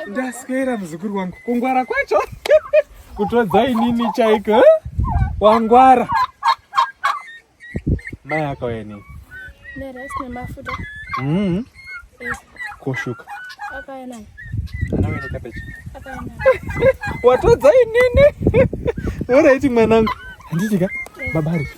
ndaswera muzukuru wangu kungwara kwacho kutodza inini chaiko eh? wangwara mai akauya nei mm-hmm. koshuka watodza inini oraiti mwanangu handitika babari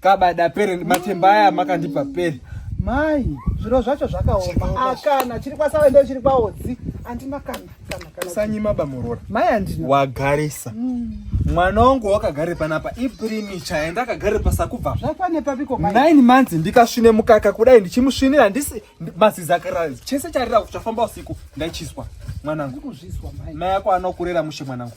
kabada pere matemba aya makandipa pere mai zviro zvacho zvakaoma akana chiri kwasave ndo chiri kwaodzi andina kana kana kana sanyima bamurora mai andina wagarisa mm. mwana wangu wakagare panapa iprimicha yenda akagare pasakubva zvakwane papiko mai nine months ndikasvine mukaka kudai ndichimusvinira ndisi mazizi akarara chese charira kuchafamba usiku ndaichiswa mwanangu ndikuzvizwa mai mai yako anokurera mushe mwanangu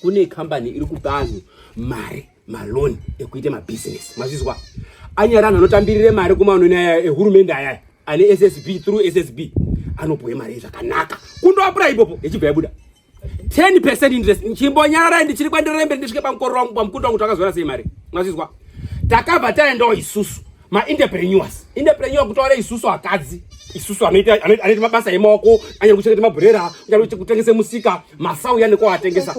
kune kambani iri kupa anhu mari maloni ekuita mabusiness mazvizwa anyari anhu anotambirire mari kumaunoni aya ehurumende ayaya ane ssb through ssb anopuwe mari zvakanaka kundoapura ipopo yechibva yabuda 10 percent interest chimbonyararai ndichiri kwandirembe ndisvike pamukororo wangu pamukunda wangu takazora sei mari mazvizwa takabva taendawo isusu ma entrepreneurs entrepreneur kutaura isusu akadzi isusu anoita anoita mabasa emaoko anyari kuchengeta mabhurera anyari kutengesa musika masau yani ko atengesa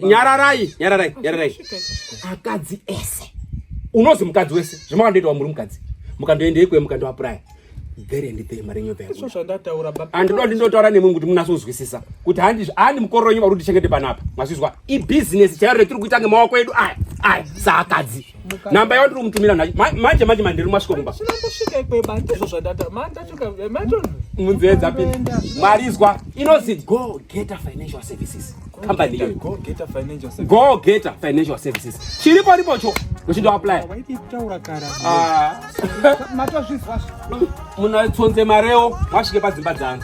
nyararai nyararai nyararai akadzi ese unozi mukadzi wese zvamakandoita wamuri mukadzi mukandoendei kwe mukandoapuraya there and there mari nyova yangu zvandataura baba and ndo ndinotaura nemwe kuti munase kuzwisisa kuti handi handi mukoro wenyu vari kuti chengete panapa mazvizwa i business chairo retiri kuita ngemaoko edu aya aya saakadzi namba yao ndiri kumutumira nacho manje manje mandiri masvikomba munzvedza pini mwari izwa inozi go geta financial services company iyoyo go geta financial services chiripo ripocho uchindo apply ah. munatsonze mareo mwasvike padzimba dzangu